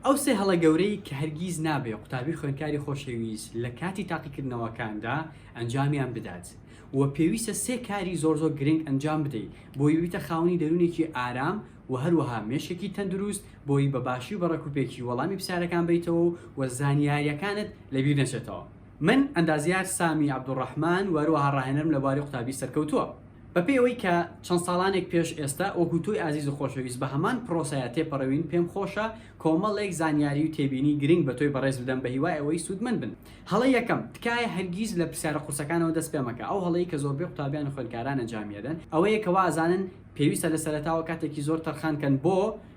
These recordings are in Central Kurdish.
ئەو سێ هەڵە گەورەی کە هەرگیز نابێ قوتابی خوێندکاری خۆشەویست لە کاتی تاقیکردنەوەکاندا ئەنجامیان بدات و پێویستە سێ کاری زۆر زۆر گرنگ ئەنجام بدەیت بۆی ببیتە خاوەنی دەروونێکی ئارام و هەروەها مێشکێکی تەندروست بۆی بە باشی و بە ڕێکوپێکی وەڵامی پرسیارەکان بەیتەوە و زانیاریەکانت لە بیر نەچێتەوە. من، ئەندازیار سامی عەبدولڕەحمان، و هەروەها ڕاهێنەرم لە بواری قوتابی سەرکەوتووە. بە پێی ئەوەی کە چەند ساڵانێک پێش ئێستا وەکوو تۆی ئازیز و خۆشەویست بە هەمان پرۆسەیا تێپەڕیوین، پێم خۆشە کۆمەڵێک زانیاری و تێبینی گرنگ بە تۆی بەڕێز بدەم بە هیوای ئەوەی سوودمەند بن. هەڵە یەکەم، تکایە هەرگیز لە پرسیارە قورسەکانەوە دەست پێ مەکە. ئەو هەڵەی کە زۆربەی قوتابیان و خوێندکاران ئەنجامی ئەدەن ئەوەیە کە وا ئەزانن پێویستە لە سەرەتاوە کاتێکی زۆر تەرخان کەن بۆ،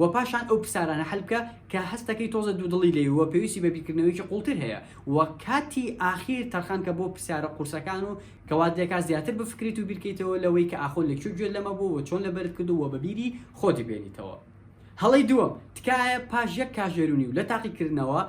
وە پاشان ئەو پرسارانە حەل بکە کە هەستەکەی تۆزە دوودڵی لێی و پێویستی بە بیرکردنەوەیەکی قوڵتر هەیە و کاتی ئاخیر تەرخان کە بۆ پرسیارە قورسەکان و کە وات لێکات زیاتر بفکریت و بیرکەیتەوە لەوەی کە ئاخۆ لە کوێ گوێت لەمە بوو و چۆن لەبەرت کردوو و بە بیری خۆتی بێنیتەوە. هەڵەی دووەم، تکایە پاش یەک کاژێر و نیو لە تاقیکردنەوە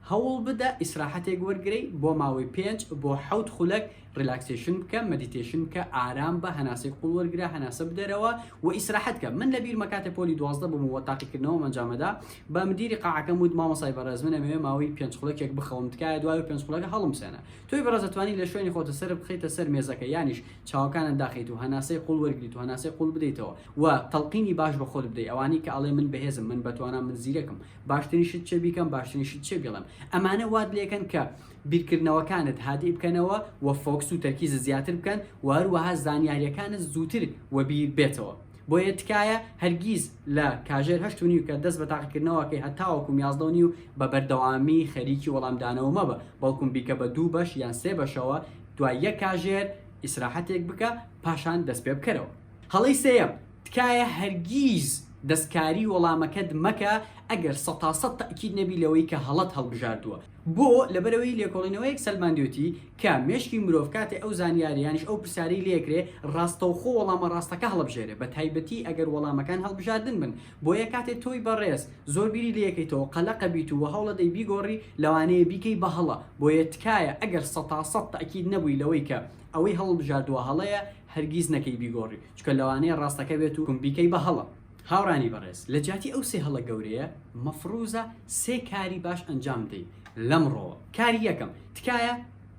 هەوڵ بدە ئیسراحەتێک وەرگرەی بۆ ماوەی پێنج بۆ حەوت خولەک ڕیلاکسەیشن بکە مەدیتەیشن بکە ئارام بە هەناسەی قوڵ وەرگرە هەناسە بدەرەوە و ئیسراحەت کە من لە بیرمە کاتێ پۆلی دوازدە بووم و تاقیکردنەوەم ئەنجامەدا بە مدیری قاعەکەم وت مامۆسای بەڕێز من ئەمەوێ ماوەی پێنج خولەکێک بخەوم تکایە دوای و پێنج خولەکە هەڵمسێنە تۆی بەڕێز ئەتوانی لە شوێنی خۆت سەرت بخەیتە سەر مێزەکە یانیش چاوەکانت داخەیت و هەناسەی قوڵ وەرگریت و هەناسەی قوڵ بدەیتەوە و تەڵقینی باش بە خۆت بدەی ئەوانەی کە ئەڵێن من بەهێزم من بەتوانام من زیرەکم باشترین شت چیە بیکەم باشترین شت چیە بیڵێم ئەمانە وات لێکەن کە بیرکردنەوەکانت هادی بکەنەوە و فۆکس و تەرکیزت زیاتر بکەن و هەروەها زانیاریەکانت زووتر وەبیر بێتەوە بۆیە تکایە هەرگیز لە کاژێر هەشت و نیو کە دەست بە تاقیکردنەوەکەی هەتاوەکوم یازدە و نیو بە بەردەوامی خەریکی وەڵامدانەوە مەبە بەڵکوم بیکە بە دوو بەش یان سێ بەشەوە دوای یەک کاژێر ئیسراحەتێک بکە پاشان دەست پێ بکەرەوە. هەڵەی سێیەم، تکایە هەرگیز دەستکاری وەڵامەکەت مەکە ئەگەر سەد تا سەد تەئکید نەبی لەوەی کە هەڵەت هەڵبژاردووە، بۆ؟ لەبەرئەوەی لێکۆڵینەوەیەک سەلماندوێتی کە مێشکی مرۆڤ کاتێ ئەو زانیاریانیش ئەو پرسیارەی لێکرێ ڕاستەوخۆ وەڵامە ڕاستەکە هەڵبژێرێ بە تایبەتی ئەگەر وەڵامەکان هەڵبژاردن بن بۆیە کاتێ تۆی بەڕێز زۆر بیری لێکەیتەوە قەلەقەبیت و وەهەوڵەدەی بیگۆڕی لەوانەیە بیکەی بە هەڵە بۆیە تکایە ئەگەر سەتا سەد تەئکید نەبووی لەوەی کە ئەوەی هەڵڵبژاردوە هەڵەیە هەرگیز نەکەی بیگۆڕی چونکە لەوانەیە ڕاستەکە بێت و بیکەی بە هەڵە. هاورانی بەڕێز لە جیاتی ئەو سێ هەڵە گەورەیە مەفڕوزە سێ کاری باش ئەنجام بدەی لەم ڕۆوە کاری یەکەم تکایە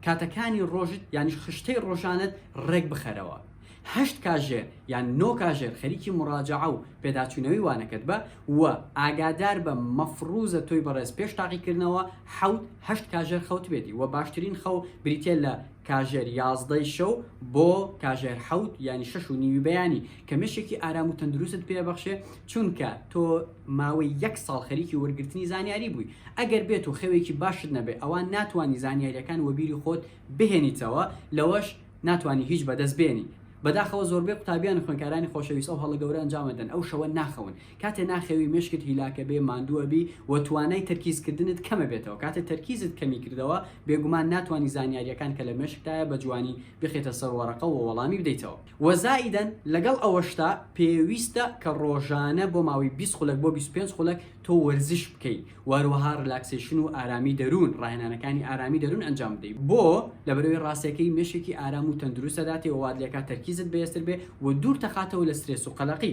کاتەکانی ڕۆژت یانیش خشتەی ڕۆژانت ڕێک بخەرەوە هەشت کاژێر یان نۆ کاژێر خەریکی مڕاجەعە و پێداچوونەوەی وانەکەت بە و ئاگادار بە مەفڕوزە تۆی بەڕێز پێش تاقیکردنەوە حەوت هەشت کاژێر خەوتبێتی و باشترین خەو بریتیە لە کاژێر یازدە ی شەو بۆ کاژێر حەوت یانی شەش و نیوی بەیانی کە مێشێکی ئارام و تەندروستت پێ ئەبەخشێ چونکە تۆ ماوەی یەک ساڵ خەریکی وەرگرتنی زانیاری بووی ئەگەر بێت و خەوێکی باشت نەبێ ئەوا ناتوانی زانیاریەکان وەبیری خۆت بهێنیتەوە لەوەش ناتوانی هیچ بەدەست بێنی بەداخەوە زۆربەی قوتابیان و خوێنکارانی خۆشەویست ئەو هەڵە گەورە ئەنجام ئەدەن ئەو شەوە ناخەون کاتێ ناخەوی مێشکت هیلاکە بێ ماندوو ئەبی و توانای تەرکیز کردنت کەم ئەبێتەوە کاتێ تەرکیزت کەمی کردەوە بێگومان ناتوانی زانیاریەکان کە لە مێشکتایە بە جوانی بخیتە سەر وەرەقە و وەڵامی بدەیتەوە و زائیدەن لەگەڵ ئەوەشتا پێویستە کە ڕۆژانە بۆ ماوەی بیست خولەک بۆ بیست و پێنج خولەک تۆ وەرزش بکەی و هەروەها ڕیلاکسەیشن و ئارامی دەروون ڕاهێنانەکانی ئارامی دەروون ئەنجام بدەی بۆ؟ لەبەرئەوەی ڕاستەکەی مێشکی ئارام و تەندروست ئەداتێ و وات لێکات تەرکیزت بەێزتر بێ و دوورتەخاتەوە لە سترێس و قەلەقی.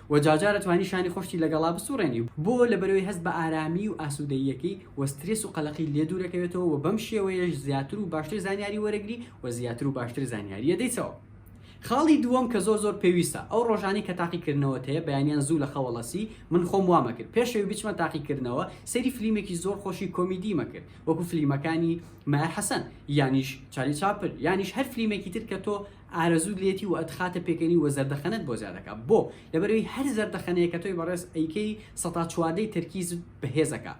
وە جارجار ئەتوانی شانی خۆشتی لەگەڵا بسوڕێنی و بۆ لەبەرەوەی هەست بە ئارامی و ئاسودەییەکەی وە سترێس و قەلەقی لێ دوورەکەوێتەوە وە بەم شێوەیەش زیاتر و باشتر زانیاری وەرەگری وە زیاتر و باشتر زانیاری ئەدەیتەوە خاڵی دووەم کە زۆر زۆر پێویستە ئەو ڕۆژانەی کە تاقی کردنەوەت هەیە بەیانیان زوو لە خەوەڵە سی من خۆم وام ئەکرد پێش ئەوی بچمە تاقی کردنەوە سەیری فلیمێکی زۆر خۆشی کۆمیدی مەکرد وەکو فلیمەکانی مایەر حەسەن یانیش چارلی چاپر یانیش هەر فلیمێکی تر کە تۆ ئارەزووت لێتی و ئەتخاتە پێکەنی و زەردەخەنەت بۆ زیا دەکا بۆ؟ لەبەرەوەی هەر زەردەخەنەیەکە تۆی بەڕێز ئەیکەی سەتا چواردەی تەرکیزت بەهێز ئەکا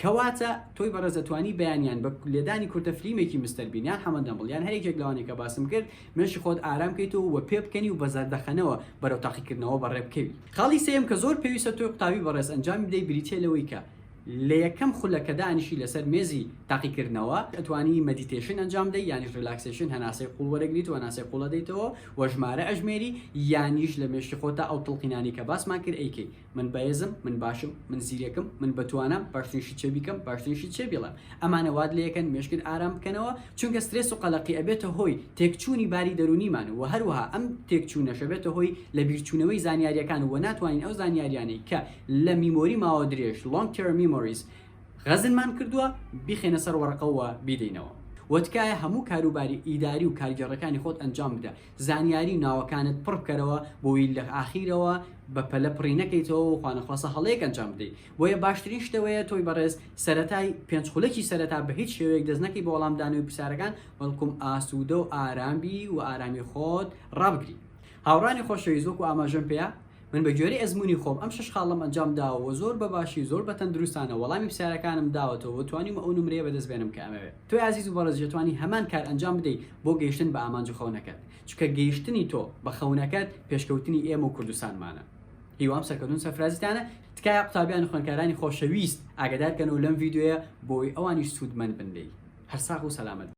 کەواتە تۆی بەڕێز ئەتوانی بەیانیان بە لێدانی کورتە فلیمێکی مستەر بین یان حەمە دەمبڵ یان هەر یەکێک لەوانەی کە باسم کرد مێشکی خۆت ئارام کەیتەوە و پێ بکەنی و بە زەردەخەنەوە بەرەو تاقیکردنەوە بەڕێ بکەوی. خاڵی سێیەم کە زۆر پێویستە تۆی قوتابی بەڕێز ئەنجامی بدەی بریتیە لەوەی کە. لە یەکەم خولە کە دانیشی لەسەر مێزی تاقیکردنەوە ئەتوانی مەدیتێشن ئەنجام بدەی یانیش ریلاکسێشن هەناسەی قوڵ وەرەگریت و هەناسەی قوڵ ئەدەیتەوە و ژمارە ئەژمێری یانیش لە مێشکی خۆتا ئەو تڵقینانەی کە باسمان کرد ئەیکەی من بەێزم من باشم من زیرەکم من بەتوانام باشترین شت چێ بیکەم باشترین شت چێ بیڵێم ئەمانە وات لێکەن مێشکت ئارام بکەنەوە چونکە سترێس و قەلەقی ئەبێتە هۆی تێکچوونی باری دەروونیمان و هەروەها ئەم تێکچوونەش ئەبێتە هۆی لەبیرچوونەوەی زانیاریەکان و ناتوانین ئەو زانیاریانەی کە لە میمۆری ماوە درێژ Long Term Memories غەزنمان کردووە بیخەینە سەر وەڕقە و بیدەینەوە وە تکایە هەموو کاروباری ئیداری و کارگێڕەکانی خۆت ئەنجام بدە زانیاری و ناوەکانت پڕ بکەرەوە بۆی لە ئاخیرەوە بە پەلە پڕی نەکەیتەوە و خوانەخواستە هەڵەیەک ئەنجام بدەی بۆیە باشترین شتەوەیە تۆی بەڕێز سەرەتای پێنج خولەکی سەرەتا بە هیچ شێوەیەک دەست نەکەی بۆ وەڵامدانەوەی پرسیارەکان بەڵکوم ئاسوودە و ئارام بی و ئارامی خۆت ڕابگری هاوڕانی خۆشەویست وەکو ئاماژەم پێیا من بە گوێرەی ئەزمونی خۆم ئەم شەش خاڵەم ئەنجام داوە وە زۆر بە باشی زۆر بە تەندروستانە وەڵامی پسیارەکانم داوەتەوە وە توانیومە ئەو نمرەیە بەدەست بێنم کە ئەمەوێ تۆی ئازیز و بەڕێزیش ئەتوانی هەمان کار ئەنجام بدەی بۆ گەیشتن بە ئامانج و خەونەکەت چونکە گەیشتنی تۆ بە خەونەکەت پێشکەوتنی ئێمە و کوردستانمانە هیوام سەرکەوتن سەرفرازیتانە تکایە قوتابیان و خوێنکارانی خۆشەویست ئاگادار کەنەوە لەم ڤیدیۆیە بۆی ئەوانیش سودمەند بن لێی هەر ساغ و سەلامەت بن.